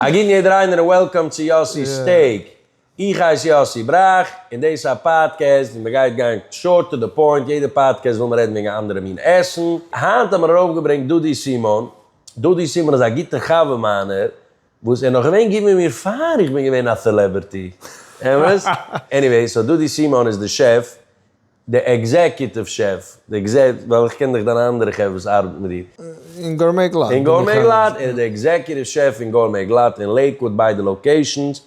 א גוטן יעדער איינער און וועלקאם צו יאסי'ס טעג. איך הייס יאסי בראך און דאס איז א פאדקעסט ווי מען גייט גיין שארט טו די פוינט, יעדע פאדקעסט וויל מען רעדן וועגן א אנדערע מין עסן, היינט האבן מיר ארויפגעברענגט דודי סימאן, דודי סימאן איז א גוטע חבר מיינער וואס ער נאך געווען גוט מיט מיר פאר איך בין געווען א סעלעבערטי, אמת? עניוועי, סאו דודי סימאן איז די שעף. די עקזעקיוטיוו שעף, די עקזעק, ווייל איך קען דאך דיינע אנדערע חברה וואס ארבעטן מיט דיר. אין גורמי גלאט. אין גורמי גלאט, ער איז די עקזעקיוטיוו שעף פון גורמי גלאט אין לעיקוואוד ביידע לאקעישאנס,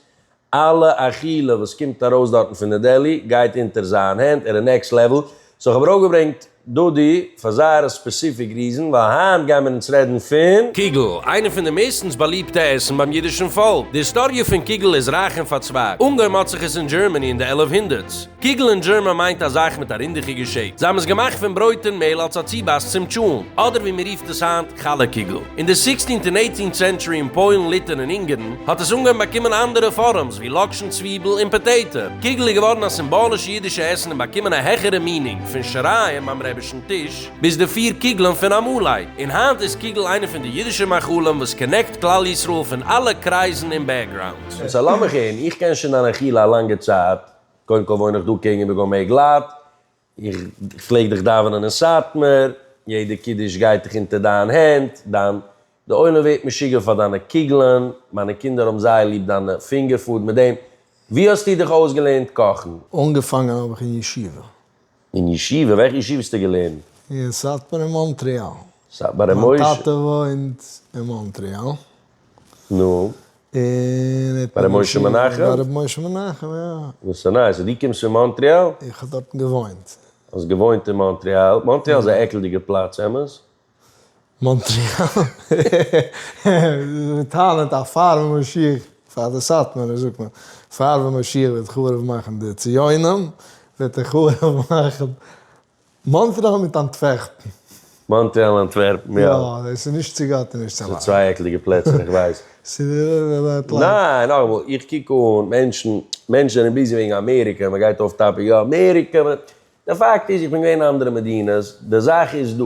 אלע אכילה וואס קומט ארויס דארטן פון די דעלי גייט אונטער זיין הענט, ער איז נעקסט לעוועל, סאו כ'האב ארויפגעברענגט דודי פאר זייער ספעסיפיק ריזען, ווייל היינט גיימיר אונז רעדן פון. קיגל, איינע פון די מערסטנס באליבטע עסן ביים אידישן פאלק, די היסטאריע פון קיגל איז רייך און פארצווייגט, אנגעהויבן האט זיך עס אין דזשערמעני אין די עלף הונדערטס, קוגל אין דזשערמאן מיינט א זייך מיט א רינדיכיגע שעיפ. זיי האבן עס געמאכט פון ברויט און מעהל אלס א צובייס צום טשולנט, אדער ווי מען רופט עס היינט חלה קוגל. אין די סיקסטינט און עיטינט סענטשורי אין פוילן, ליטען און אונגערן האט עס אנגעהויבן באקומען אנדערע פארעמס ווי לאקשן, צוויבל און פאטעיטע. קוגל איז געווארן א סימבאלישע אידישע עסן און באקומען א העכערע מינינג, פון שרייען ביים רעבישן טיש ביז די פיר קוגלען פון א מאהלייט. און היינט איז קוגל איינע פון די אידישע מאכלים וואס קאנעקט כלל ישראל פון אלע קרייזן און בעקגראונדס. און סא לאמיך הערן, איך קען שוין דיין אכילה א לאנגע צייט, קודם כל וואוין איך דא קעגן איבער גאמעי גלאט, איך פלעג דיך דאווענען אין סאטמאר, יעדע קידוש גייט איך אונטער דיין הענט, דיין, די עולם ווערט משוגע פאר דיינע קוגלען, מיינע קינדער האבן זייער ליב דיינע פינגער פוד מיט דעם, ווי האסטו דיך אויסגעלערנט קאכן? אנגעפאנגען האב איך אין ישיבה. אין ישיבה? וועלכע ישיבה האסטו געלערנט? אין סאטמאר אין מאנטריאל. סאטמאר ר' משה. מיין טאטע וואוינט אין מאנטריאל. נו. און ער האט מיר געשיקט. ביי ר' משה מנחם? ביי ר' משה מנחם, יא. דאס איז נייס. און דו קומסט פון מאנטריאל? איך האב דארטן געוואוינט. האסט געוואוינט אין מאנטריאל? מאנטריאל איז א עקלדיגע פלאץ, אמת? מאנטריאל, מיט טאלענט א פארווע משיח פאר די סאטמארע, זאגט מען, פארווע משיח וועט חרוב מאכן די ציונים, וועט ער חרוב מאכן מאנטריאל מיט אנטווערפן. מאנטריאל און אנטווערפן, יא. יא, דאס איז נישט צו גאט און נישט צו מענטש. ס'איז צוויי עקליגע פלעצער, איך ווייס. ניין, נאכאמאל, איך קוק אן מענטשן, מענטשן זענען ביזי וועגן אמעריקע, מ'גייט אויף טאפיק, יא אמעריקע, דער פאקט איז איך בין געווען אין אנדערע מדינות, די זאך איז דא,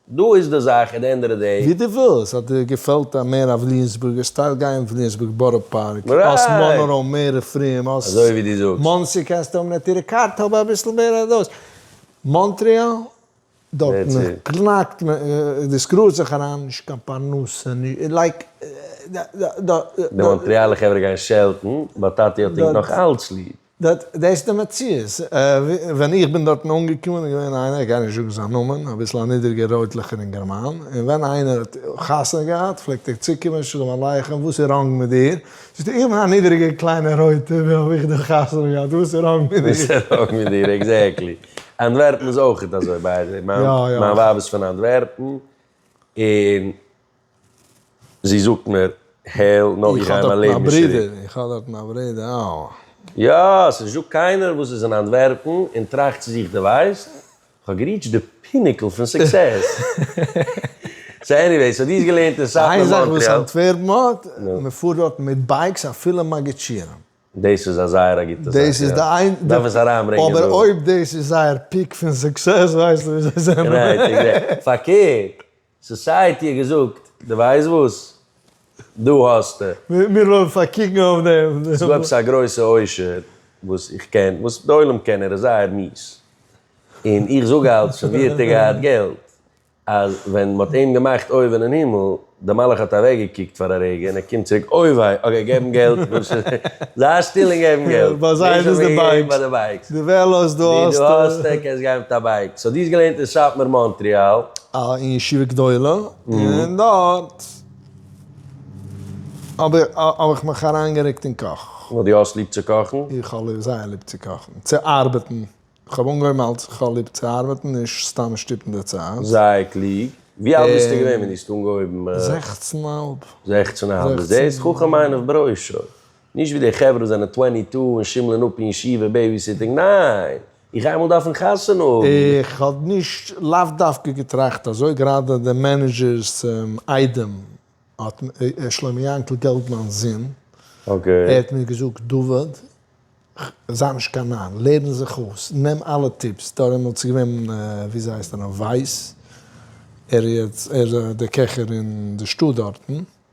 דא איז די זאך עט די ענד אוו די דעי. ווי דו ווילסט, אז דיר געפעלט א מער א ווליאמסבורגער סטייל גיי אין וויליאמסבורג בארא פארק, האסט מאנרא מער רופאים, האסט מאנסי קענסטו האבן אויף טירע קארט האב אביסל מער אויף דאס, מאנטריאל דארטן קנאקט מען די סקרול זיך אריין נישט קיין פרנסה נישט לייק די מאנטריאלע חברה גייען שעלטן באט טאטי האט אינג נאך אלץ ליב. דארט דאס די מציאות, ווען איך בין דארטן אנגעקומען איז געווען איינער, איך גיי נישט זאגן זיין נאמען, אביסל א נידריגער רויטליכער אינגערמאן, און ווען איינער האט חתונה געהאט פלעגט ער צוקומען שלום עליכם וואס איז ראנג מיט דיר, זאגט ער איך בין א נידריגער קליינער רויטער ווי האב איך דיר חתונה געהאט וואס איז ראנג מיט דיר. וואס איז ראנג מיט דיר, עקזעקטלי. אנטווערפן איז אויכעט אזוי ביי די וועי, מיין ווייב איז פון אנטווערפן, און. זי זאָגט מיר, העל, נאָר איך גײ מײַן לעבן נישט צוריק. איך האָב דאָרטן אַ ברודער, איך האָב דאָרטן אַ ברודער, אַו. יאָ, ס'נישט דאָ קײנער, װאָס איז אין אַנטװערפּן און טראַכט צו זיך, דו װײסט, איך האָב געריטשט די פּינעקל פֿון סוקסעס. סאָ, עניװעי, סאָ, דו האָסט געלערנט אין סאַטמאַר, מאָנטרעאַל. אײן זאַך, װאָס אַנטװערפּן האָט, מע פֿאָרט דאָרטן מיט בײַקס, אַפֿילו מאַגיטשירן. דאָס איז אַ זײער אַ גוטע זאַך, יאָ. דאַרף עס אַרײַנברענגען דאָ. אָבער אױב דאָס איז זײער פּיק פֿון סוקסעס, װײסט איר, װאָס זײ זענען? גערעכט, גערעכט. פֿאַרקערט, סאסייעטי האט געזאגט, דו ווייסט וואס? דא האסטו. מיר לאזן פארקוקן אויף דעם. ס'איז דא עפעס א גרויסע עושר וואס איך קען, וואס די עולם קען, ער איז זייער mies, און איך זאג אלץ פון ווי האט ער געהאט געלט, אז ווען מען האט אים געמאכט אויבן אין הימל, דער מלאך האט אוועקגעקוקט פאר א רגע און ער קומט צוריק, אוי וויי, אקעי געבן געלט, זיי שטיל און געבן געלט. ביי זיי איז עס די בייקס. דו וועלאס, דא האסטו. דא האסטו, קענסט גיין מיט א בייק. סאו דו האסט געלערנט אין סאטמאר מאנטריאל. אין ישיבה גדולה, און דארט האב איך מיך אריינגערוקט אין קאך. ווייל דו האסט ליב צו קאכן? איך האב זייער ליב צו קאכן, צו ארבעטן. איך האב אנגעהויבן אלס איך האב ליב צו ארבעטן, נישט סתם שטופן די צייט. זייער קלוג. ווי אלט ביסטו געווען ווען דו האסט אנגעהויבן? זעכצן און האלב. זעכצן און האלב. זעהסט? זעהסט? חכם עיניו בראשו. נישט ווי די חברה וואס זענען טווענטי טו און שימלען אפ אין ישיבה בעיביסיטינג. ניין! איך גיי אמאל דארפן חתונה האבן. איך האב נישט לאו דווקא געטראכט אזוי, גראדע די מענעזשער'ס איידעם האט מיר, שלמה יענקל געלבמאן'ס זון, ער האט מיר געזאגט, דוד, זיי נישט קיין נאר, לערן זיך אויס, נעם אלע טיפס, דעמאלטס איז געווען ווי זי הייסט נאך ווייס, ער איז דער קעכער אין די שטאט דארטן.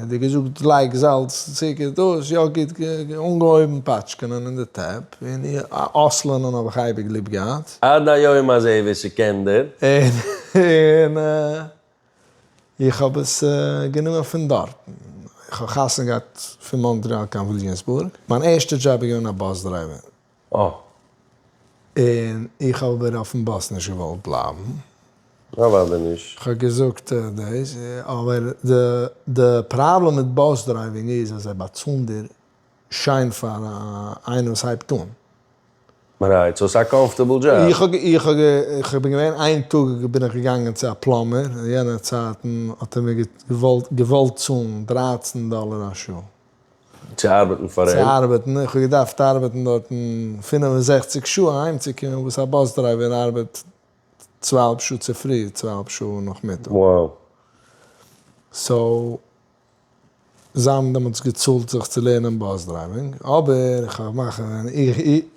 ווי געזאגט לייג זאלץ צוקער דאס יא גוט אנגעהויבן פאטשקענען אין די טעפ און אויסלערנען האב איך אייביג ליב געהאט. עד היום הזה ווער ס'קען דער. און איך האב עס גענומען פון דארטן. איך האב חתונה געהאט פון מאנטריאל קיין וויליאמסבורג, מיין ערשטע דזשאב איז געווען א באס דרייווער. אה. און איך האב אבער אויפן באס נישט געוואלט בלייבן. פארוואס דען נישט? כ'האב געזאגט דאס, אבער די פראבלעם מיט באס דרייווינג איז אז זיי באצאלן דיר שיין פאר איינער וואס הייבט אן. רייט, סאו ס'איז א קאמפארטעבל דזשאב. איך בין געווען איין טאג בין איך געגאנגען צו א פלאמער, אין יענע צייטן האט ער מיר געוואלט צאלן דרײַצן דאלער א שעה. צו ארבעטן פאר אים. צו ארבעטן, איך האב געדארפט ארבעטן דארטן פֿינף און זעכציק שעה אהיימצוקומען וואס א באס דרייווער ארבעט צוויי אהאלב שעה צופרי צוויי אהאלב שעה נאכמיטאג. וואו. סאו זיי האבן דעמאלטס געצאלט זיך צו לערנען באס דרייווינג, אבער איך האב געמאכט אז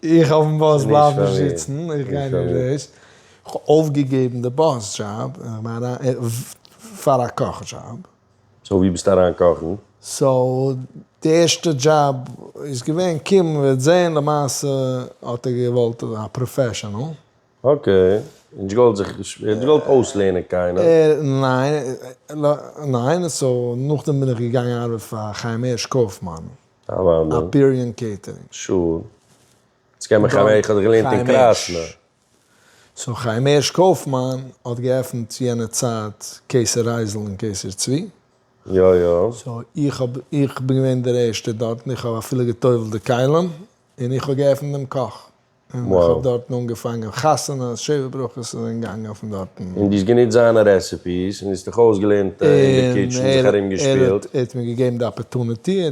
איך אויפן באס בלייב נישט זיצן, איך גיי נישט דאס, איך האב אויפגעגעבן די באס דזשאב און איך בין אריין פאר א קאך דזשאב. סאו ווי ביסטו אריין קאכן? סאו די ערשטע דזשאב איז געווען קום וועט זעהן למעשה האט ער געוואלט א פראפעשענעל. אקעי, נישט געוואלט זיך נישט געוואלט אויסלערנען קיינעם. ניין ניין סאו נאכדעם בין איך געגאנגען ארבעט פאר חיים הערש קויפמאן אפיריאן קעיטערינג. שור. יעצט קען מען חיים הערש איך האב דיך געלערנט אין קראסנא. סאו חיים הערש קויפמאן האט געעפנט צו יענע צייט קיסר רייזל און קיסר צבי. יא יא. סאו איך האב איך בין געווען דער ערשטער דארטן איך האב אפילו געטובלט די כלים און איך האב געעפנט דעם קאך און איך האב דארטן אנגעפאנגען חתונות שבע ברכות איז זענען געגאנגען פון דארטן. און דו האסט גענוצט זיינע רעסעפיס און האסט דיך אויסגעלערנט אין די קיטשן זיך ארום געשפילט. און ער האט מיר געגעבן די אפערטוניטי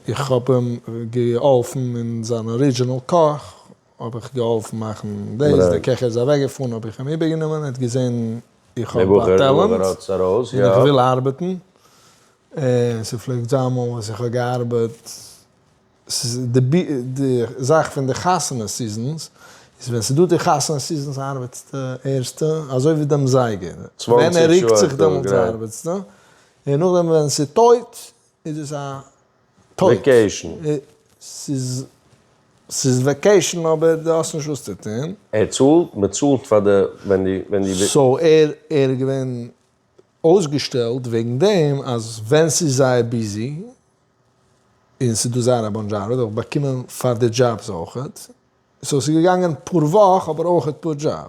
איך האב אים געהאלפן אין זיין ארידזשינעל קאך. האב איך געהאלפן מאכן דאס, דער קעכער איז אוועקגעפארן האב איך אים איבערגענומען, ער האט געזען איך האב א טעלענט און איך וויל ארבעטן, און ס'פלעגט זיין אמאל וואס איך האב געארבעט, ס'איז די זאך פון די חתונה סיזענס, איז ווען ס'איז דא די חתונה סיזענס ארבעטסטו ערשטע אזוי ווי דעם זייגער, ווען ער רוקט זיך דעמאלטס ארבעטסטו, און נאכדעם ווען ס'איז טויט איז עס א טויט? ס'איז וועקעישן אבער דו האסט נישט וואס צו טון. ער צאלט? מ'צאלט פאר די ווען די. סאו ער איז געווען אויסגעשטעלט וועגן דעם אז ווען ס'איז זייער ביזי און ס'איז דא זייער א באנטש ארבעט האב איך באקומען פאר די דזשאבס אויכעט. סאו ס'איז געגאנגען פאר וואך אבער אויכעט פאר דזשאב.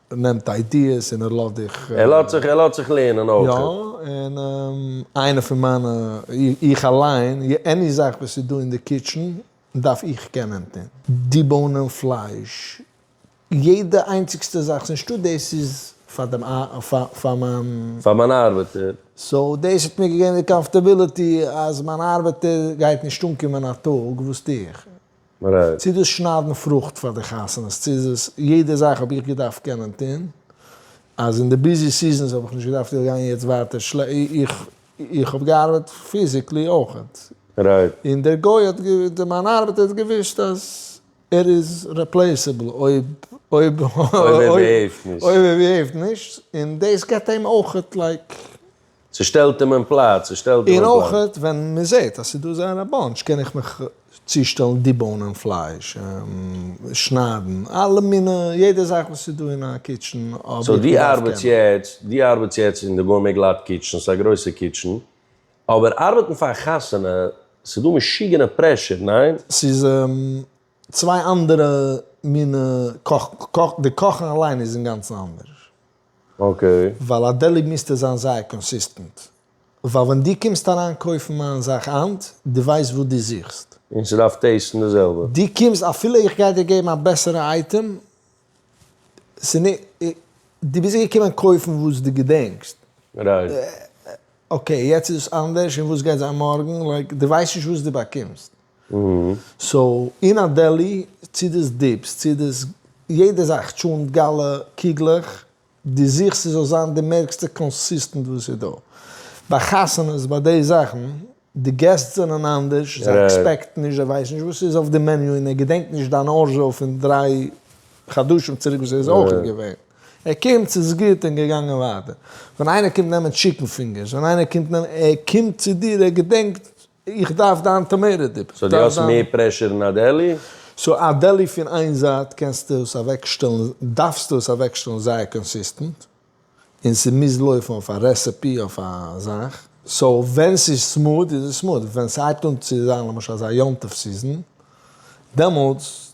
ער נעמט איידיעס און ער לאזט דיך. ער לאזט זיך, ער לאזט זיך לערנען אויך. יא, און איינע פון מיינע, איך אליין, עני זאך וואס איז דא אין די קיטשען דארף איך קענען טון. די באנען פלייש, יעדע איינציגסטע זאך, ס'איז נישטא דאס איז פאר דעם פאר מיין. פאר מיין ארבעטער. סאו דאס האט מיר געגעבן די קאמפארטעביליטי אז מיין ארבעטער גייט נישט אנקומען א טאג וואס טו איך. צו איז דאס שניידן פרוכט פאר די חתונות, צו איז עס יעדע זאך האב איך געדארפט קענען טון, אז אין די ביזי סיזענס האב איך נישט געדארפט איך גיין יעצט ווייטער של איך האב געארבעט פיזיקלי אויכעט, און דער גוי האט געוו מיין ארבעטער האט געוויסט אז ער איז רעפלעיסעבל אויב אויב אויב ער בעהעיווט נישט, און דאס געבט אים אויכעט לייק. ס'שטעלט אים אין פלאץ, ס'שטעלט אים אין פלאץ. און אויך ווען מ'זעט אז ס'דא זייער א באנטש קען איך מיך צושטעלן דיבאונען פלייש, שניידן, אלע מיני, יעדע זאך וואס ס'דא אין א קיטשען האב איך געדארפט קענען. סאו דו ארבעטס יעצט, דו ארבעטס יעצט אין די גורמי גלאט קיטשען, ס'איז א גרויסע קיטשען, אבער ארבעטן פאר א חתונה, ס'דא משוגענע פרעשור, ניין? ס'איז צוויי אנדערע מיני קאכן, די קאכן אליין איז אינגאנצן אנדערש. אקעי. ווייל א דעלי מיזטו זיין זייער קאנסיסטענט. ווייל ווען דו קומסט אריין קויפן מיין זאך היינט, דו ווייסט וואס דו זוכסט. און ס'דארף טעיסטן די זעלבע. דו קומסט אפילו איך גיי דיר געבן א בעסערע אייטעם, דו ביזט געקומען קויפן וואס דו געדענקסט. רייט. אקעי, יעצט איז עס אנדערש און וואס גייט זיין מארגן, לייק, דו ווייסט נישט וואס דו באקומסט. סאו אין א דעלי צו דאס דיפס צו דאס יעדע זאך טשונט גאלע קוגלעך דו זוכסט ס'זאל זיין די מערקסטע קאנסיסטענט וואס איז דא ביי חתונות ביי די זאכן די געסט זענען אנדערש זיי עקספעקטן נישט זיי ווייסן נישט וואס איז אויף די מעניו און ער געדענקט נישט דיין ארזשאו פון דריי חדשים צוריק וואס ער איז אויך נישט געווען ער קומט ס'איז גוט און געגאנגען ווייטער ווען איינער קומט נעמען טשיקן פינגערס ווען איינער קומט נעמען ער קומט צו דיר ער געדענקט. איך דארף דיין טאמערע דיפ. סאו דו האסט מער פרעשור אין א דעלי? סאו א דעלי פון איין זייט קענסטו עס אוועקשטעלן, דארפסטו עס אוועקשטעלן זייער קאנסיסטענט, און ס'מוז לויפן אויף א רעסעפי אויף א זאך, סאו ווען ס'איז סמוד איז עס סמוד, ווען ס'הייבט אן צו זיין למשל אזא יום טוב סיזען דעמאלטס.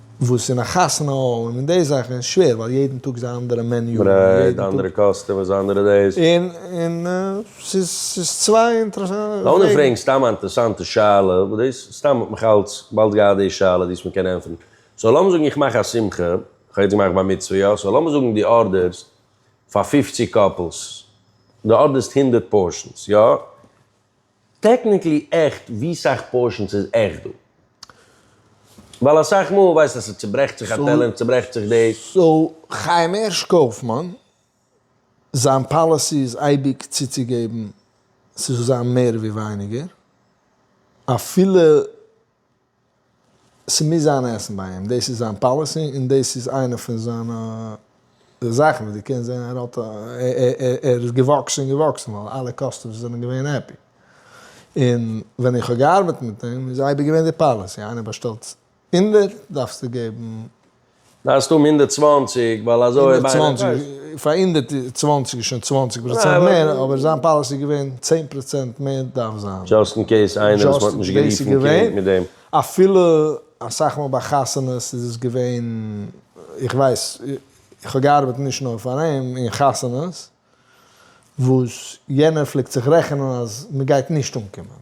וואס אין א חתונה האל און די זאכן איז שווער ווייל יעדן טאג איז א אנדערע מעניו, ברייט, די אנדערע קאסטומערס, די אנדערע דאס. און און ס'איז ס'איז צוויי אינטערעסאנטע פראגן. לאמיר פרעגן סתם א אינטערעסאנטע שאלה, וואס דאס סתם האט מיך אלץ באלד געהאט די שאלה די עס מען קען ענטפערן. סאו לאמיר זאגן איך מאך א שמחה, איך האב יעצט געמאכט בר מצוה יא, סאו לאמיר זאגן די ארדערסט פאר פופציג קאפלס, די ארדערסט הונדערט פארשענס יא, טעקניקלי עכט ווי סאך פארשענס איז עכט דא? ווייל אסאך מאל ווייסט אז ס'צוברעכט זיך א טעלער און צוברעכט זיך דאס. סאו חיים הערש קויפמאן זיין פאליסי איז אייביג צוצוגעבן ס'זאל זיין מער ווי ווייניגער אפילו ס'מוז זיין עסן ביי אים, דאס איז זיין פאליסי און דאס איז איינע פון זיינע זאכן וואס דו קענסט זען ער האט ער איז געוואקסן און געוואקסן ווייל אלע קאסטומערס זענען געווען העפי. און ווען איך האב געארבעט מיט אים איז אייביג געווען די פאליסי איינער באשטעלט הונדערט דארפסטו געבן. דארפסט האבן הונדערט צוואַנציק ווייל אזוי אויב איינער קויפט. פאר הונדערט צוואַנציק איז שוין צוואַנציק פראצענט מער אבער זיין פאליסי איז געווען צען פראצענט מער דארף זיין. דזשאסט אין קעיס איינער וואס מ'האט נישט גערופן קרענק מיט דעם. אפילו אסאך מאל ביי חתונות איז עס געווען, איך ווייס, איך האב געארבעט נישט נאר פאר אים, אין חתונות וואס יענער פלעגט זיך רעכענען אז מ'גייט נישט אנקומען.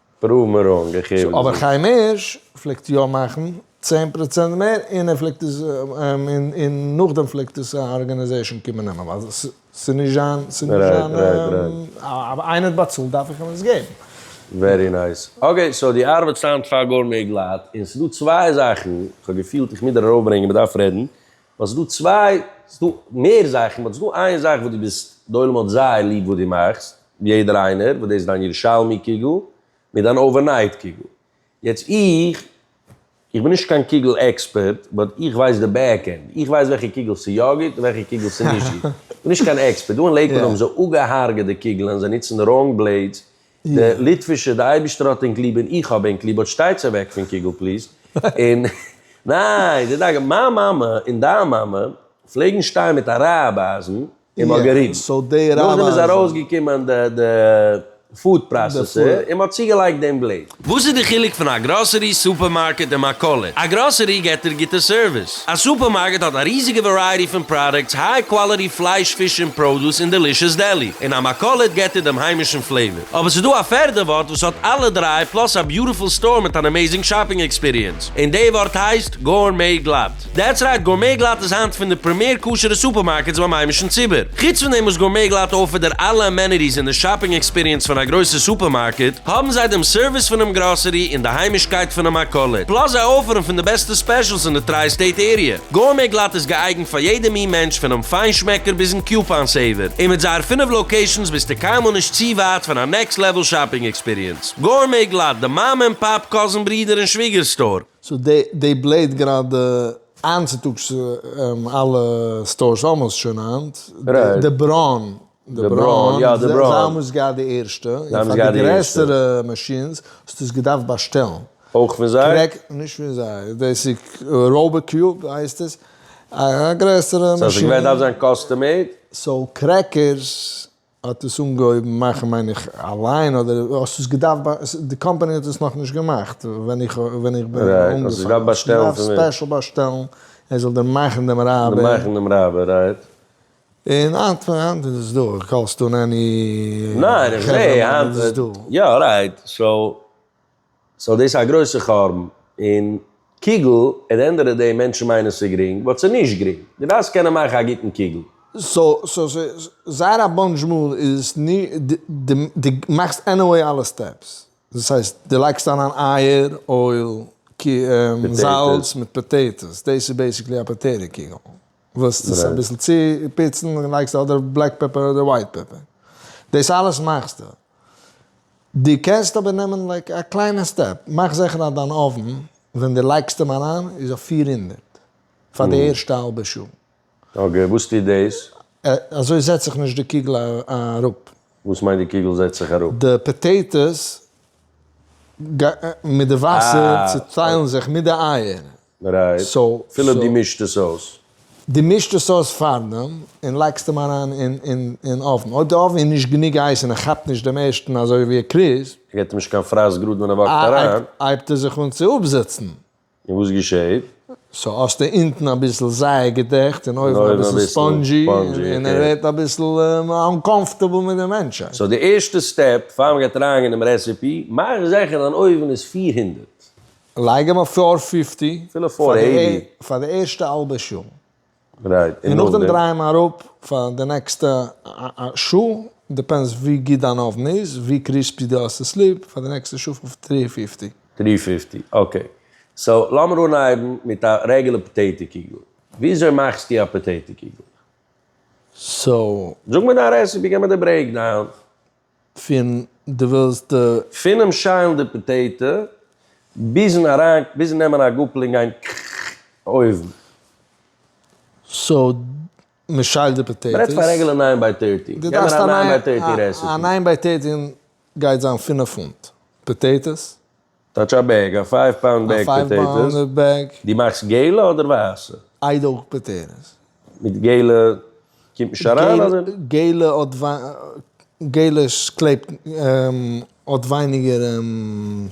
פרואוו מיר אן, גיי הער וואס די זאגסט. אבער חיים הערש פלעגט יא מאכן צען פראצענט מער און ער פלעגט עס און נאכדעם פלעגט עס א ארגענעזעישן קומען נעמען ווייל ס'איז נישט זיין איינער האט באצאלט דארף איך אים עס געבן. ווערי נייס. אקעי סאו די ארבעטסט היינט פאר גאר מער גלאט און ס'דא צוויי זאכן כ'האב געפילט איך מוז דיר ארויפברענגען מ'דארף רעדן באט ס'איז דא צוויי, ס'איז דא מער זאכן, באט ס'איז דא איין זאך וואס דו ביסט, די עולם האט זייער ליב וואס דו מאכסט, יעדער איינער, וואס דאס איז דיין ירושלמי קוגל, מיט דיין אווערנייט קוגל. יעצט איך, איך בין נישט קיין קוגל עקספערט, באט איך ווייס די בעק ענד, איך ווייס וועלכע קוגל ס'איז יא גוט און וועלכע קוגל ס'איז נישט גוט. איך בין נישט קיין עקספערט, דא אין לעיקוואד האבן זיי אפגעהארגעט די קוגלען, זיי נוצן ראנג בלעידס, די ליטווישע, די אייבישטער האט ענק ליב און איך האב ענק ליב, באט שטייטס אוועק פון קוגל פליז, און ניין, די דאגה, מיין מאמע און דיין מאמע פלעגן שטיין מיט א רייב אייזן און מ'האט געריבן, נאכדעם איז ארויסגעקומען די פוד פראסעסער און מ'האט צוגעלייגט דעם בלעיד. וואס איז די חילוק פון א גראסערי, סופערמארקעט און מכולת? א גראסערי געט דיר גוטע סערוויס. פראדוקטס. א סופערמארקעט האט א ריזיגע ווערייעטי פון פראדוקטס, היי קוואליטי פלייש, פיש און פראדוס, און דעלישעס דעלי. און א מכולת געט דיר דעם היימישן פלעיוואר. אבער ס'איז דא א פערדע ווארט וואס האט אלע דריי, פלאס א ביוטיפול סטאר מיט אן עמעיזינג שאפינג עקספיריענס. און די ווארט הייסט, גאורמעי גלאט. דעטס רייט, גאורמעי גלאט איז היינט פון די פרעמיער כשר'ע סופערמארקעטס ביים היימישן ציבור. חוץ פון דעם וואס גאורמעי גלאט אויפערט דיר אלע אמעניטיס און די שאפינג עקספיריענס פון א גרויסע סופערמארקעט, האבן זיי דעם סערוויס פונעם גראסערי און די היימישקייט פונעם מכולת. פלאס זיי אויפערן פון די בעסטע ספעשלס האוז אין די טריי סטעיט עריע. גורמי גלאט איז געאייגנט פאר יעדע מין מענטש פונעם פיינשמעקער ביזן קיופאן סעיווער, און מיט זייער פינף לאקעישאנס ביסטו קיינמאל נישט צו ווייט פון א נעקסט לעוועל שאפינג עקספיריענס. גורמי גלאט, די מאמע און פאפ, קאזין ברודער און שוויגער סטאר. סאו דעי בלעט גראדע איינצוטאגס אלע סטארס אלמאסט שוין היינט, די ברוין די בראון, יא די בראון. זיי האבן עס געהאט די ערשטע, און פאר די גרעסערע מאשינס האסטו עס געדארפט באשטעלן. אויך פון זיי? קרעק, נישט פון זיי, דאס איז ראובא קיוב הייסט עס, א גרעסערע מאשין. סאו עס איז געווען דארף זיין קאסטום מעיד? סאו קרעקערס האט עס אנגעהויבן מאכן מיין איך אליין אדער האסט עס געדארפט די קאמפאני האט עס נאכנישט געמאכט ווען איך ווען איך בין אנגעפאנגען. רייט, האסט עס געדארפט באשטעלן פון וועם? ספעשל באשטעלן ער זאל דיר מאכן דעם רייבער. דיר מאכן דעם רייבער, רייט. און היינט היינט איז עס דא, קאלסט אן עני חברה מאן איז עס דא. יא רייט, סאו סאו דאס איז א גרויסע חורבן, און קוגל עט די ענד אוו די דעי מענטשן מיינען ס'איז גרינג באט ס'איז נישט גרינג, דו דארפסט קענען מאכן א גוטן קוגל. סאו סאו זייער א באנטש מאל איז דו מאכסט עניוועי אלע סטעפס, דאס הייסט דו לייגסט אריין אייער, אויל, זאלץ מיט פאטעיטאס, דאס איז בעסיקלי א פאטעיטא קוגל. וואס דאס אביסל צו פיצן לייגסטו אדער בלעק פעפער אדער ווייט פעפער, דאס אלעס מאכסטו, דו קענסט אבער נעמען לייק א קליינע סטעפ, מאך זיכער אז דיין אויוון ווען דו לייגסט אים אריין איז אויף פֿיר הונדערט פאר די ערשטע האלבע שעה. אקעי, וואס טוט דאס? אזוי זעצט זיך נישט די קוגל אראפ. וואס מיינט די קוגל זעצט זיך אראפ? די פאטעיטאס מיט די וואסער צוטיילן זיך מיט די אייער, רייט, אפילו דו מישט עס אויס. דו מישט עס אויס פארדעם און לייגסט אים אריין אין אויוון, אויב די אויוון איז נישט גענוג הייס און ער כאפט נישט דעם ערשטן אזוי ווי ער קריז. ער געט אים נישט קיין פרייז גראד ווען ער וואקט אריין. הייבט ער זיך אן צו אפזיצן. און וואס געשעהט? סאו האסטו אונטן אביסל זייער געדעכט און אויבן אביסל ספאנדזשי און ער ווערט אביסל אנקאמפארטעבל מיט די מענטשהייט. סאו די ערשטע סטעפ פאר מען גייט אריינגיין אינעם רעסעפי, מאך זיכער דיין אויוון איז פֿיר הונדערט. לייג אים אויף פאר פיפטי אפילו פאר עיטי. פאר די ערשטע האלבע שעה. רייט, און נאכדעם? און נאכדעם דריי אים אראפ פאר די נעקסטע שעה, דיפענדס ווי גוט דיין אווען איז, ווי קריספי דו האסט עס ליב, פאר די נעקסטע שעה אויף טרי פיפטי. טרי פיפטי, אקעי. סאו לאמיר אנהייבן מיט א רעגולער פאטעיטא קוגל. וויאזוי מאכסטו א פאטעיטא קוגל? סאו. זאג מיר דיין רעסעפי, גיב מיר די ברעיקדאון. פון די ווילסט די. פונעם שיילן די פאטעיטע ביזן אריין ביזן נעמען א גאפל און גיין אויבן. סאו מען שיילט די פאטעיטעס. מען רעדט פון א רעגולער ניין ביי טערטי. די דארפסט א ניין ביי טערטי רעסעפי. א ניין ביי טערטי גייט זיין פֿינף פונט פאטעיטעס. טאטש א בעג, א פייוו פאונד בעג פאטעיטאס, דו מאכסט געלע אדער ווייסע? איי דא אויך פאטעיטאס? מיט געלע קומט נישט אריין אדער? געלע האט געלע קלעבט האט ווייניגער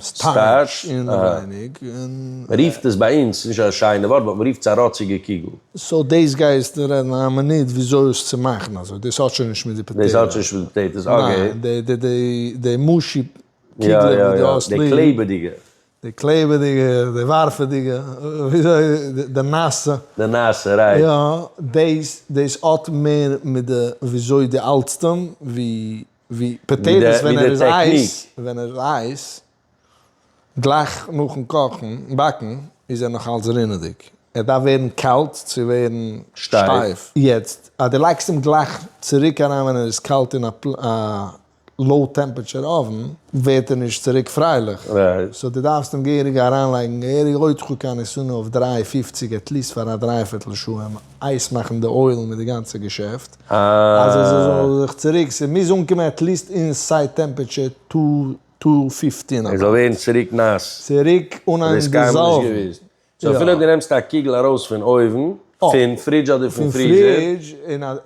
סטארטש אינעווייניג. מ'רופט עס ביי אונז, נישט א שיינע ווארט, באט מ'רופט עס א ראציגע קוגל. סאו דאס גייסטו רעדן א מינוט וויאזוי עס צו מאכן אזוי, דאס האט שוין נישט מיט די פאטעיטאס. דאס האט שוין נישט מיט די פאטעיטאס, אקעי. די מושי קוגלען וואס דו האסט ליב, די קלעבעדיגע, די קלעבעדיגע, די ווארפעדיגע, וויאזוי, די נאסע, די נאסע, רייט, יא, דאס, דאס האט מער מיט די וויאזוי דו האלטסט אים, ווי, ווי פאטעיטאס ווען ער איז הייס, ווען ער איז הייס, גלייך נאכן קאכן, באקן, איז ער נאכאלץ רינעדיג, ער דארף ווערן קאלט צו ווערן שטייף, יעצט אז דו לייגסט אים גלייך צוריק אריין ווען ער איז קאלט אין א. לאו טעמפערטשער אווען ווערט ער נישט צוריק פרייליך, סאו דו דארפסט אים געהעריג אריינלייגן געהעריג הויט כו ק ניסן אויף דרײַ פֿופֿציק עטליסט פאר א דריי פערטל שעה אים אייס מאכן די אוילן מיט די גאנצע געשעפט אז עס זאל זיך צוריק ס'מוז אנקומען עטליסט אינסייד טעמפערטשער טו טו פיפטין אבאוט. ער זאל ווערן צוריק נאס. צוריק אן דיזאלווען. סאו אפילו אויב דו נעמסט א קוגל ארויס פון אויוון, פון פרידזש אדער פון פריזער.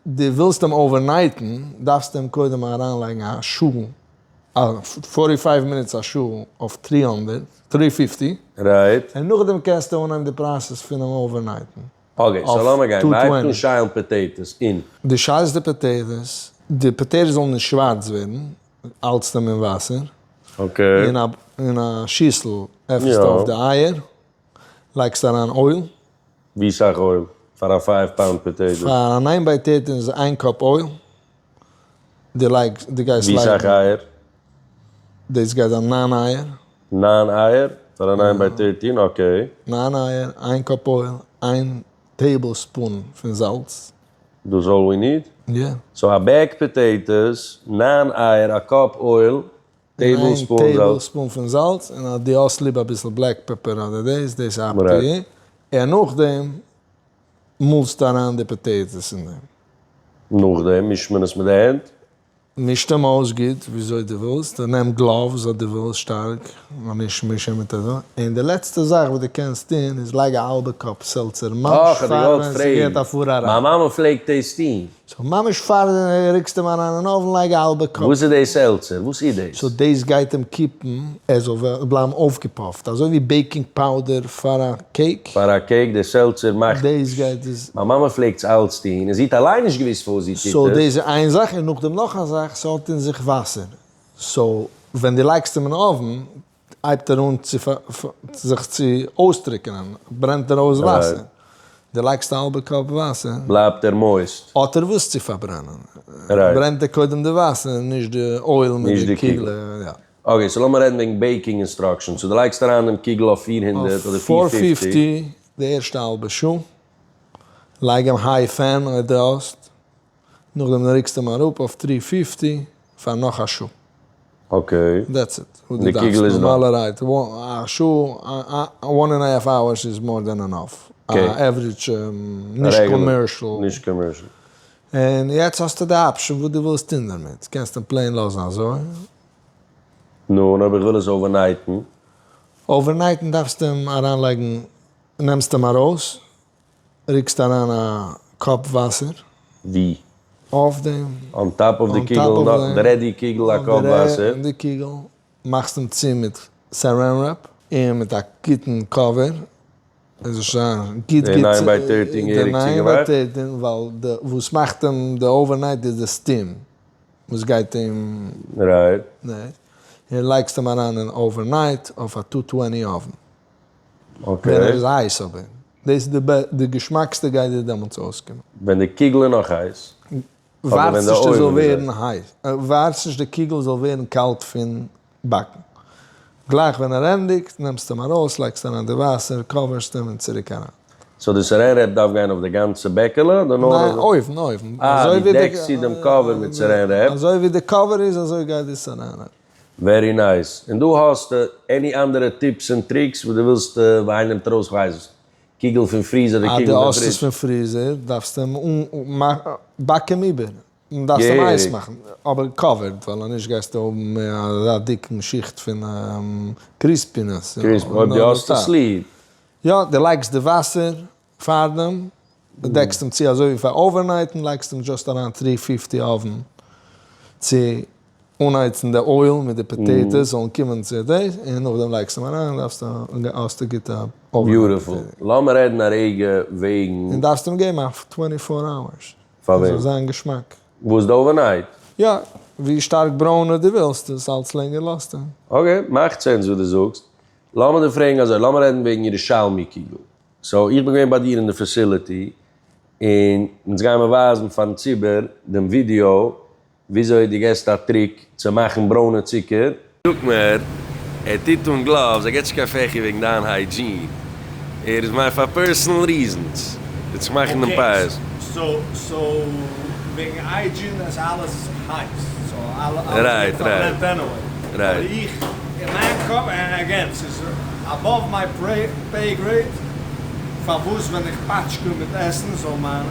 דו ווילסט אים אווערנייטן, דארפסטו אים קודם אריינלייגן א שעה, א פארטי פייוו מינוטס א שעה אויף טרי הונדערט, טרי פיפטי, און נאכדעם קענסטו אנהייבן די פראסעס פון אים אווערנייטן. אקעי, סאו לאמיר גיין. מען הייבט אן שיילן פאטעיטאס אין. דו שיילסט די פאטעיטאס, די פאטעיטאס זאלן נישט שווארץ ווערן, האלטסט אים אין וואסער, אין א שיסל עפנסטו אויף די אייער, לייגסט אריין אויל. ווי סאך אויל פאר א פייוו פאונד פאטעיטא? פאר א ניין פאטעיטא איז איין קאפ אויל, די לייגסט, די גייסט לייגן. ווי סאך אייער? דאס גייט זיין ניין אייער. ניין אייער פאר א ניין פאטעיטא, אקעי. ניין אייער, איין קאפ אויל, איין. טעיבל ספון פון זאלץ. דאס אלל ווי ניד? יא. סאו א בעג פאטעיטעס, נײַן אייער, א קאפ אויל, טעיבל ספון זאלץ. איין טעיבל ספון פון זאלץ, און אז דו האסט ליב אביסל בלעק פעפער אדער דאס, דאס איז אפ טו יו, און נאכדעם מאלסטו אריין די פאטעיטעס אין דעם. נאכדעם מישט מען עס מיט די הענט? מיש דעם אויס גוט וויאזוי דו ווילסט, און נעם גלאווס אז דו ווילסט שטארק, נאר נישט מישען מיט אזוי. און די לעצטע זאך וואס דו קענסט טון איז לייג א האלבע קאפ סעלצער ממש פאר ווען ס'געט א פאר אריין. מיין מאמע פלעגט דאס טון. סאו ממש פאר דו רוקסט אים אריין אין אויוון לייג א האלבע קאפ. וואס איז דאס סעלצער? וואס איז דאס? סאו דאס גייט אים קיפן ער זאל בלייבן אויפגעפאפט, אזוי ווי בעיקינג פאודער פאר א קעיק. פאר א קעיק דער סעלצער מאכט. דאס גייט איז. מיין מאמע פלעגט עס אלץ טון, און זי האט אליין נישט געוואוסט פארוואס זי טוט עס. סאו דאס איז איין זאך, און נאכדעם נאך א זאך, ס'האט אין זיך וואסער, סאו ווען דו לייגסט אים אין אויוון הייבט ער אן צו זיך צו אויסטרוקענען, ברענט ער אויס וואסער, דו לייגסט א האלבע קאפ וואסער. בלייבט ער מויסט. האט ער וואס צו פארברענען, ברענט ער קודם די וואסער, נישט די אויל מיט די קוגלעך. אקעי, סאו לאמיר רעדן וועגן בעיקינג אינסטראקשענס. סאו דו לייגסט אריין דעם קוגל אויף פֿיר הונדערט אדער פֿיר פֿופֿציק. אויף פֿאר פֿיפֿטי די ערשטע האלבע שעה, לייג אים היי פען אויב דו האסט, נאכדעם רוקסטו אים אראפ אויף טרי פֿיפֿטי פאר נאך א שעה. אקעי. דעטס איט וואס דו דארפסט נארמאלערהייט. א שעה, וואן ענד א האלף אווערס איז מאר דען ענאף. א עוורעדזש נישט קאמערשל. נישט קאמערשל. און יעצט האסטו די אפשען וואס דו ווילסט טון דערמיט. קענסט אים פלעין לאזן אזוי, נו, און אויב איך וויל עס אווערנייטן? אווערנייטן דארפסטו אים אריינלייגן, נעמסט אים ארויס, ריקסט אריין א קאפ וואסער. ווי? אויף דעם. אן טאפ אויף די קוגל, און נאך די רעדי קוגל א קאפ וואסער. די קוגל, מאכסט אים צו מיט סאראן רעפ. און מיט א גוטן קאווער. עס זאל שוין גוט גוט. די ניין ביי טערטין געהעריג צוגעמאכט. די ניין ביי טערטין, ווייל די וואס מאכט אים די אווערנייט איז די סטים. וואס גייט אים רייט און לייגסט אים אריין אין אווערנייט אויף א טו טוועני אווען ווען ער איז הייס אבער דאס איז די געשמאקסטע גייט דיר דעמאלטס אויסקומען. ווען די קיגל איז נאך הייס? ווארטסט נישט עס זאל ווערן הייס, ווארטסט נישט די קיגל זאל ווערן קאלט פון באקן. גלייך ווען ער ענדיגט, נעמסטו אים ארויס, לייגסט אריין די וואסער, קאווערסט אים און צוריק אריין. סאו די סערען רעפ דארף גיין אויף די גאנצע בעקעלע אדער נאר אויף די. ניין, אויבן, אויבן. אה, די דעקסט צו דעם קאווער מיט סערען רעפ. אזוי ווי די קאווער איז אזוי גייט די סערען רעפ. ווערי נייס. און דא האסטו עני אנדערע טיפס און טריקס וואס די ווילסט וויין נעמט ארויס כ'ווייס נישט קוגל פון פריזער אדער קוגל פון פרידזש. אז די האסט עס פון פריזער דארפסטו אים באקן איבער. און דארפסט אים אייס מאכן, אבער קאווערד, ווייל אנישט גייסטו האבן אזא דיקן שיכט פון קריספינעס. אויב דו האסט עס ליב. יא, דו לייגסט די וואסער פארדעם, דו דעקסט אים צו אזוי ווי פאר אווערנייט און לייגסט אים דשאסט אריין טרי פיפטי אווען צו אנהייצן די אויל מיט די פאטעיטאס זאלן קומען צו דעיס און נאכדעם לייגסט אים אריין דארפסטו האסטו גוטע אווען. ביוטיפול. לאמיר רעדן א רגע וועגן. און דארפסט אים געבן א טווענטי פאר אווערס. פאר וועם? ס'זאל זיין געשמאק. וואס די אווערנייט? יא, ווי שטארק ברוינע די ווילסט עס אלץ לענגער לאזט ער. אקעי, מאכט סענס וואס די זאגסט. לאמיר דיר פרעגן אזוי, לאמיר רעדן וועגן ירושלמי קיגל. סאו איך בין געווען ביי דיר אין די פעסילעטי, און אונז גייען מיר ווייזן פארן ציבור דעם ווידיאו, וויאזוי דו געסט א טריק צו מאכן ברוינע צוקער. זאגט מיר, ער טוט אן גלאווס, ער געט נישט קיין פעכי וועגן דיין היידזשין, ער איז מיין פאר פערסענעל ריזענס, ווי צו מאכן דעם פייער. רייט רייט רייט.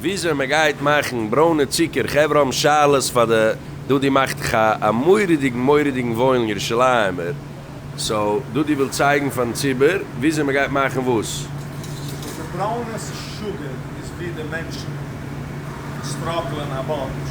וויאזוי מען גייט מאכן ברוינע צוקער, חברה האבן שאלות פאר די דודי מאכט ח א מורא'דיגן מורא'דיגן וואוילן ירושלימ'ער, סאו דודי וויל צייגן פארן ציבור וויאזוי מען גייט מאכן וואס? וואס די ברוינעס שוגג איז ווי די מענטשן סטראגלען א באנטש.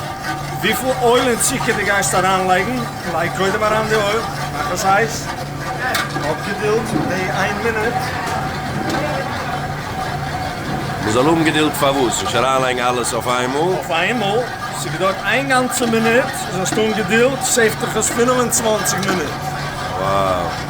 וויפיל אויל און צוקער די גייסט אריין לייגן, לייג קודם אריין די אויל, מאך עס הייס, האב געדילד די איין מינוט. מען זאל האבן געדילד פארוואס? נישט אריין לייגן אלעס אויף איינמאל. אויף איינמאל, ס'געדוירט איין גאנצע מינוט, זאלסט האבן געדילד סעיף תכלס פֿינף און צוואַנציק מינוט. Wow.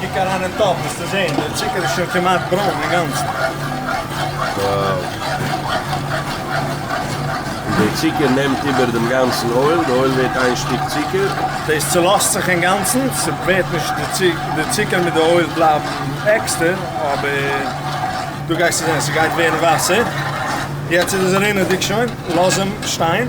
קוק אריין אין טאפ וועסטו זען דער צוקער איז שוין כמעט ברוין אינגאנצן. וואו! און דער צוקער נעמט איבער דעם גאנצן אויל, די אויל ווערט איין שטיק צוקער. דאס צולאזט זיך אינגאנצן, ס'ווערט נישט די צוקער, די צוקער מיט די אויל בלייבן עקסטער, אבער דא גייסטו זען ס'גייט ווערן וואסער. יעצט איז עס רינעדיג שוין, לאז אים שטיין.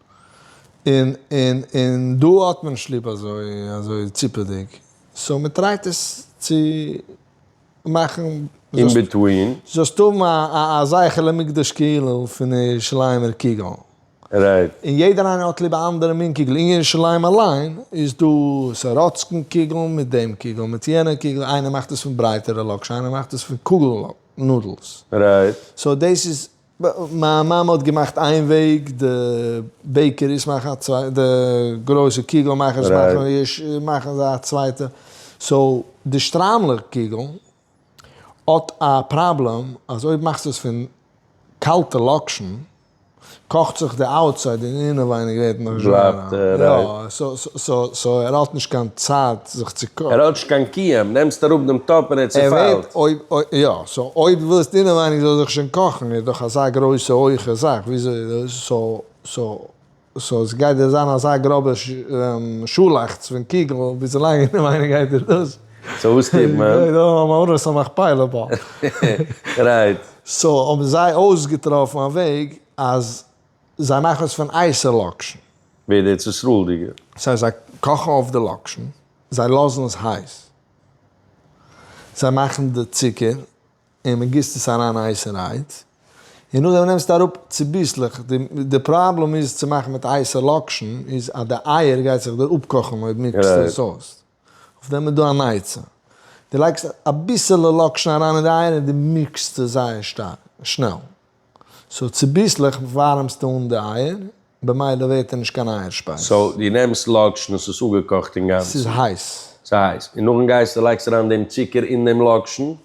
און און און דא האט מען נישט ליב אזוי אזוי ציפעדיג, סאו מען טרייט עס צו מאכן אין ביטווין. זאלסט האבן א זכר למקדש כאילו פון ירושלימ'ער קוגל. רייט. און יעדער איינער האט ליב א אנדערע מין קוגל, אין ירושלים אליין איז דא סאראצקן קוגל מיט דעם קוגל מיט יענע קוגל, איינער מאכט עס פון ברייטערע לאקשן איינער מאכט עס פון קוגל נאדלס. רייט. סאו דאס איז מיין מאמע האט געמאכט איין וועג, די בעיקעריס מאכן א צווייטע, די גרויסע קוגל מאכערס מאכן זיי א צווייטע, סאו די שטריימלעך קוגל האט א פראבלעם אז אויב מאכסטו עס פון קאלטע לאקשן קאכט זיך די אוטסייד און אינעווייניג ווערט נאך שווערער, סאו ער האט נישט קיין צייט געלייגט זיך צו קאפ. ראטש קיין קיעם, נעמסט אראפ דעם טאפ און ער צעפיילט. יא, סאו אויב דו ביסט אינעווייניג זאל ער זיך שוין קאכן, איז דאך אזא גרויסע הויכע זאך, וויאזוי סאו ס'גייט דיר זיין אזא גראבע שאלאכטץ פון קוגל וויזולאנג אינעווייניג גייט דיר דאס. סאו וואס טוט מען? איז דא א מערכת המכפלה בה? רייט. סאו האבן זיי אויסגעטראפן א וועג אז זיי מאכן עס פון אייסעלאקשן. ווער די ארץ ישראל'דיגער. סא זיי קאכן אויף די לאקשן, זיי לאזן עס הייס, זיי מאכן די צוקער און מען גיסט עס אריין הייסע רייד און נאכדעם נעמסטו אראפ צוביסלעך, די פראבלעם איז צו מאכן מיט הייסע לאקשן איז אז די אייער גייט זיך דיר אפקאכן אויב מיקסטו עס אויס. אויף דעם איז דא אן עצה. דו לייגסט אביסעלע לאקשן אריין אין די אייער און דו מישסט עס זייער שטארק, שנעל. סאו צוביסלעך ווארעמסטו אן די אייער, במילא ווערט ער נישט קיין אייער שפייז. סאו דו נעמסט לאקשן און ס'איז אפגעקאכט אינגאנצן? ס'איז הייס. ס'איז הייס. און נאכדעם גייסטו לייגסט אריין דעם צוקער אין דעם לאקשן?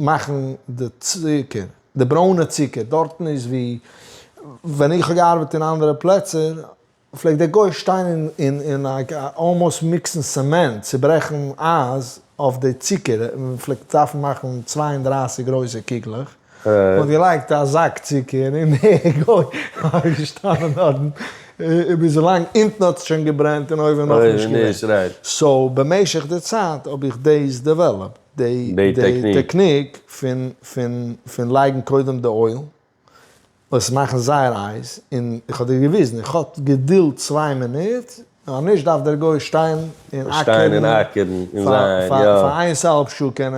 מאכן די צוקער, די ברוינע צוקער, דארטן איז ווי, ווען איך האב געארבעט אין אנדערע פלעצער, פלעגט דער גוי שטיין און און אלמאוסט מיקסן סעמענט, צוברעכן אייז אויף די צוקער, מען פלעגט דארפן מאכן צוויי און דרײַסיק גרויסע קוגלעך, מען האט געלייגט א זאק צוקער און דער גוי איז געשטאנען דארטן ביז ווילאנג אונטן האט שוין געברענט און אויבן נאכנישט געברענט, סאו במשך די צייט האב איך דאס דעוועלאפט. די טעקניק פון לייגן קודם די אויל, עס מאכן זייער הייס, און איך האב דיר געוויזן, איך האט געדולד צוויי מינוט, נאר נישט דארף דער גוי שטיין און אקערן פאר איינס א האלב שעה, קען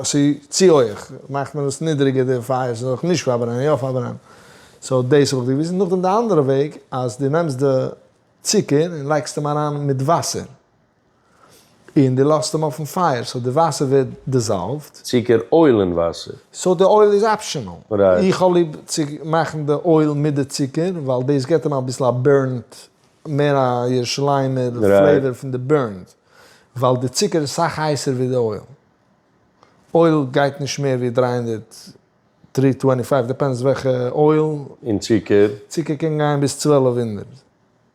ס'איז צו הויעך, מאכט מען עס נידריגער די פייער ס'זאל זיך נישט פארברענען, יא פארברענען, סאו דאס האב איך דיר געוויזן, נאכדעם די אנדערע וועג אז דו נעמסט די צוקער און לייגסט אים אריין מיט וואסער. און דו לאזט אים אויפן פייער סאו די וואסער ווערט דיזאלווד. צוקער אויל אין וואסער. סאו די אויל איז אפשענעל. איך האב ליב צו מאכן די אויל מיט די צוקער ווייל דאס געט אים אביסל א בורנט, מער א ירושלימ'ער פלעיוואר פון די בורנט, ווייל די צוקער איז סאך הייסער ווי די אויל. אויל גייט נישט מער ווי דרײַ הונדערט טרי טווענטי פייוו, דיפענדס וועלכע אויל. און צוקער? צוקער קען גיין ביז צוועלף הונדערט.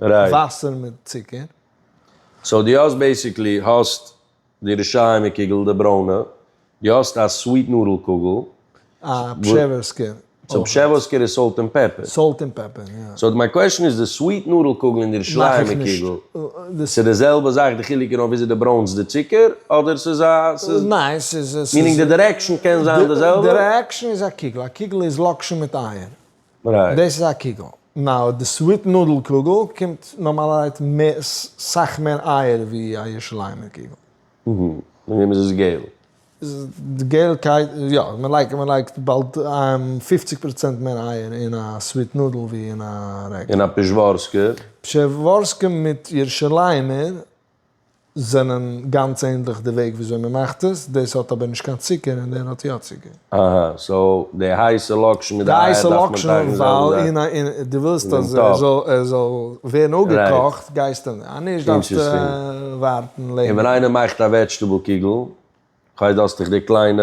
וואסער מיט צוקער. סאו דו האסט בעיסיקלי האסט די רשעים קוגל די ברוינע, דו האסט א סוויט נאדל קוגל. א פשעווארסקער. סאו פשעווארסקער איז סאלט ענד פעפער. סאלט ענד פעפער יא. סאו מיין קוועשן איז די סוויט נאדל קוגל און די רשעים קוגל ס'איז די זעלבע זאך די חילוק איז נאר וויאזוי די ברוינסט די צוקער אדער ס'איז א ס'איז ניין ס'איז מיענינג די דירעקשאן קען זיין די זעלבע? די דירעקשאן איז א קוגל א קוגל איז לאקשן מיט אייער. דאס איז א קוגל. נאר די סוויט נודל קוגל קומט נארמאלערהייט סאך מער אייער ווי א ירושלימער קוגל. און וועמענס איז געל? די געלקייט, יא, מען לייגט באלד פופציג פראצענט מער אייער אין א סוויט נודל ווי אין א רעגולער. און א פשעווארסקער? פשעווארסקע מיט ירושלימער זענען גאנץ ענדליך די וועג וויאזוי מען מאכט עס, דאס האט אבער נישט קיין צוקער און דער האט יא צוקער. אהא, סאו די הייסע לאקשן מיט די אייער דארף מען טייכן די זעלבע זאך. ווייל אין א, דו ווילסט אז ער זאל ווערן אפגעקאכט, גייסטו און אז נישט דארפסטו ווארטן לענגער. און ווען איינער מאכט א וועדזשטעבל קוגל, כ'ווייס דו האסט דיך די קליינע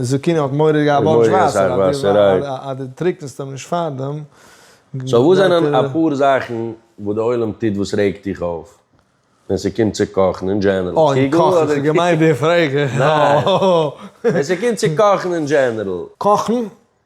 זקן האט מורא געהאט בארטש וואסער אז אז די טריקנסט אים נישט פארדעם גייט ער. סאו וואס זענען אפאר זאכן וואס די עולם טוט וואס רעגט דיך אויף ווען ס'קומט צו קאכן אין דזשענערל? אה אין קאכן, איך האב געמיינט די פרעגע. ניין. ווען ס'קומט צו קאכן אין דזשענערל. קאכן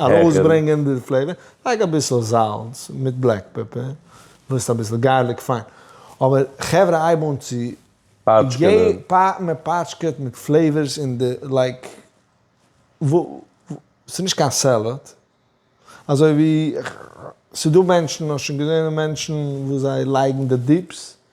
ארויסברענגען די פלעיווער, לייג אביסל זאלץ מיט בלעק פעפער, מוזט אביסל גארליק פיין, אבער חברה הייב אן צו פאטשקענען, מען פאטשקעט מיט פלעיווערס אין די לייק, ס'איז נישט קיין סעלעד, אזוי ווי ס'איז דא מענטשן, האסט שוין געזען מענטשן וואס זיי לייגן די דיפס,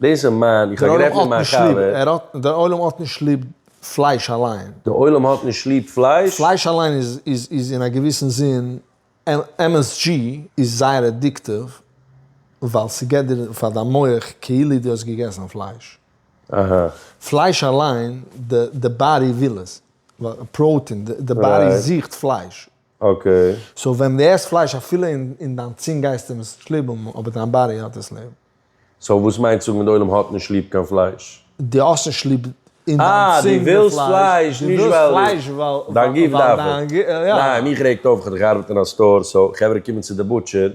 דאס איז מיין, איך האב גערעדט מיט מיין חבר. דער עולם האט נישט ליב פלייש אליין. דער עולם האט נישט ליב פלייש? פלייש אליין איז אין א געוויסן זין, MSG איז זייער עדיקטיוו, ווייל ס'געט דיר פאר דיין מח כאילו דו האסט געגעסן פלייש. אהא. פלייש אליין, די באדי וויל עס, פראוטין, די באדי זוכט פלייש, אקעי. סאו ווען דו עסט פלייש אפילו אין דיין צונג גייסטו אים עס שלובען אבער דיין באדי האט עס ליב. סאו וואס מיינט צו זאגן די עולם האט נישט ליב קיין פלייש? די האסט נישט ליב אין דיין צונג די פלייש. אה די ווילסט פלייש נישט ווייל דיין גוף דארף עס. ניין מיך רעגט אויף איך האב דאך געארבעט אין א סטאר סאו חברה קומען צו די בוטשער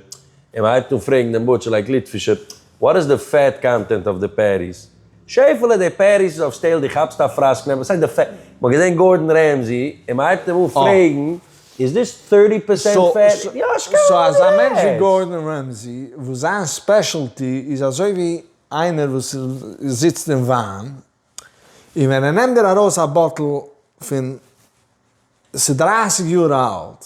און מען הייבט אן פרעגן דעם בוטשער לייק ליטפישער וואט איז די פעט קאנטענט אויף די פעטיס? שעפעלע די פעטיס איז אויף סטעיל די כאפסט א פראסק נעבעך סאיז די פעט מ'האט געזען גארדען רעמזי און מ'הייבט אים אן פרעגן איז דאס טורטי פערסענט פעט יא שכח סאו אזא מענטש ווי יעצט. גארדען רעמזי וואס זיין ספעשעלטי איז אזוי ווי איינער וואס זיצט אין וויין און ווען ער נעמט דיר ארויס א באטל פון ס'איז דרײַסיק יאר אלט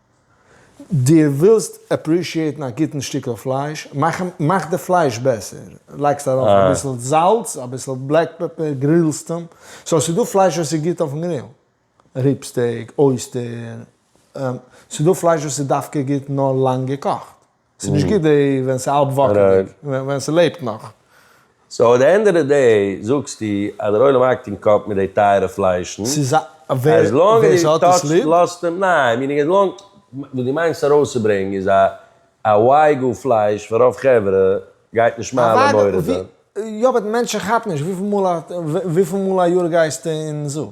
דו ווילסט עפרישיעטן א גוטן שטיקל פלייש, מאך די פלייש בעסער, לייגסט ארויף אביסל זאלץ, אביסל בלעק פעפער, גרילסט אים, סאו ס'דא פלייש וואס איז גוט אויפן גריל, ריב סטעיק, אויסטער, ס'דא פלייש וואס איז דווקא גוט נאר לאנג געקאכט. ס'איז נישט גוט די ווען ס'איז האלב וואקעלדיג, ווען ס'לעבט נאך. סאו עט די ענד אוו די דעי זאגסטו אז דער עולם האקט אין קאפ מיט די טייערע פליישן, עז לאנג עז די טאטש לאזט אים, ניין, מיענינג עז לאנג וואס דו מיינסט ארויסצוברענגן איז א א וויי גא פלייש פאר רוב חברה גייט נישט מעלה מורידה. יא באט מענטשן כאפן נישט וויפיל מאל א יאר גייסטו אין זו.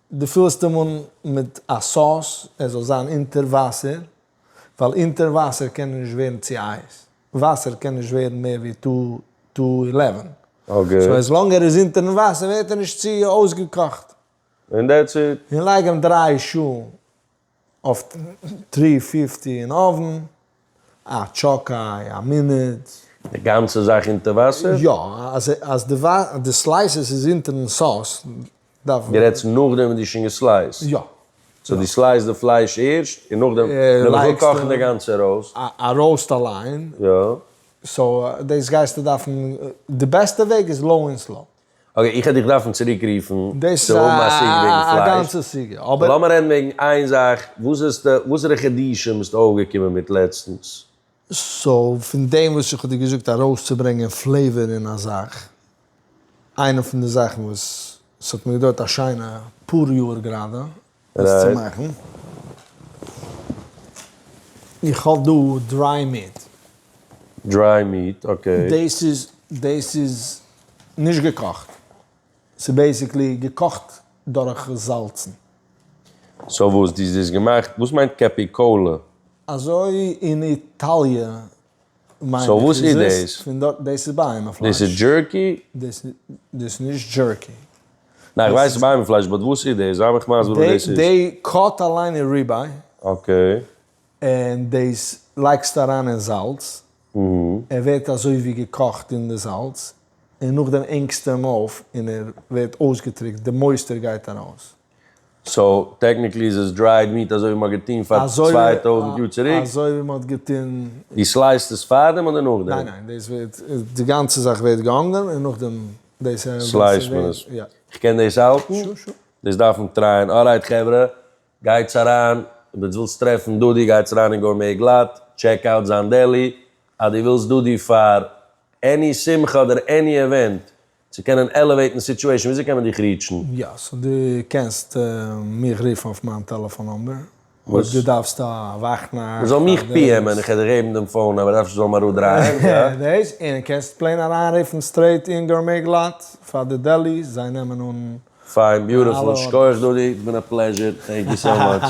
דו פילסט אים אן מיט א סאס ער זאל זיין אונטער וואסער, ווייל אונטער וואסער קען ער נישט ווערן צו אייז, וואסער קען נישט ווערן מער ווי טו טו אילעווען, סאו עז לאנג ער איז אונטערן וואסער ווערט ער נישט צו אויסגעקאכט, און לייג אים דריי שעה אויף טרי פיפטי אין אויבן, א טשאקיי א מינוט. די גאנצע זאך אונטער וואסער? יא, אז אז די די סלייסעס איז אונטערן סאוס דארף מען. די רעדסט נאכדעם ווען די שוין געסלייסט? יא. סאו די סלייסט די פלייש ערשט און נאכדעם נאכן קאכן די גאנצע ראוסט. א ראוסט אליין. יא. סאו דאס גייסטו דארפן, די בעסטע וועג איז לאו און סלאו. אקעי, איך העט דיך דארפן צוריק רופן צו האבן א סיגע וועגן פלייש. אבער לאמיר רעדן וועגן איין זאך, וואסערע חידושים ביסטו אויפגעקומען מיט לעצטנס? סאו, פון דעם וואס איך האב דיר געזאגט ארויסצוברענגען פלעיווער אין א זאך, איינע פון די זאכן וואס ס'האט מיר געדויערט א שיינע פאר יאר גראדע, דאס צו מאכן. איך האב דא דריי מיעט. דריי מיעט, אקעי. דאס איז, דאס איז נישט געקאכט. ס'איז בעיסיקלי געקאכט דורך זאלצן. סאו וואס? דו האסט דאס געמאכט, וואס מיינט קעפיקאלע? אזוי אין איטאליע מיין איך איז דאס פון דארט דאס איז בהמה פלייש. דאס איז דזשערקי? דאס איז נישט דזשערקי. ניין איך ווייס ס'איז בהמה פלייש באט וואס איז דאס? זיי מיך מסביר וואס דאס איז. דעי קאט אליין איז ריבעי. אקעי. און דאס לייגסטו אריין אין זאלץ. ער ווערט אזוי ווי געקאכט אין די זאלץ און נאכדעם הענגסטו אים אויף און ער ווערט אויסגעטריקט די מויסטער גייט ארויס. סאו טעקניקלי איז עס דרייד מיעט אזוי ווי מען האט געטון פאר צוויי טויזנט יאר צוריק? אזוי ווי מען האט געטון. די סלייסט עס פארדעם אדער נאכדעם? ניין ניין דאס ווערט די גאנצע זאך ווערט געהאנגען און נאכדעם דאס ענד. סלייסט מען עס? יא. איך קען דאס האלטן? שור שור. דאס דארף מען טרייען. אלרייט חברה, גייטס אריין, אויב אונז ווילסט טרעפן דודי גייטס אריין אין גורמעי גלאט, טשעק אוט זיין דעלי, אז דו ווילסט דודי פאר עני שמחה אדער עני עווענט, צו קענען עלעוועיטן סיטועשן וויאזוי קען מען דיך ריעטשן? יא, סאו דו קענסט מיך רופן אויף מיין טעלעפאן נומבער, אויב דו דארפסט א וואך נאכט פאר דאס. מ'זאל מיך פיעמען, איך וועל דיר געבן דעם פאון נומבער, דארפסט זאל מיר אראפדרייען, יא? דעיס, און קענסט פלעין אריינרופן סטרעיט אין גארמעי גלאט פאר די דעלי, זיי נעמען אן אלע ארדערס. פיין, ביוטיפול, שכוח דודי, איטס בין א פלעזשער, טענק יו סאו מאטש.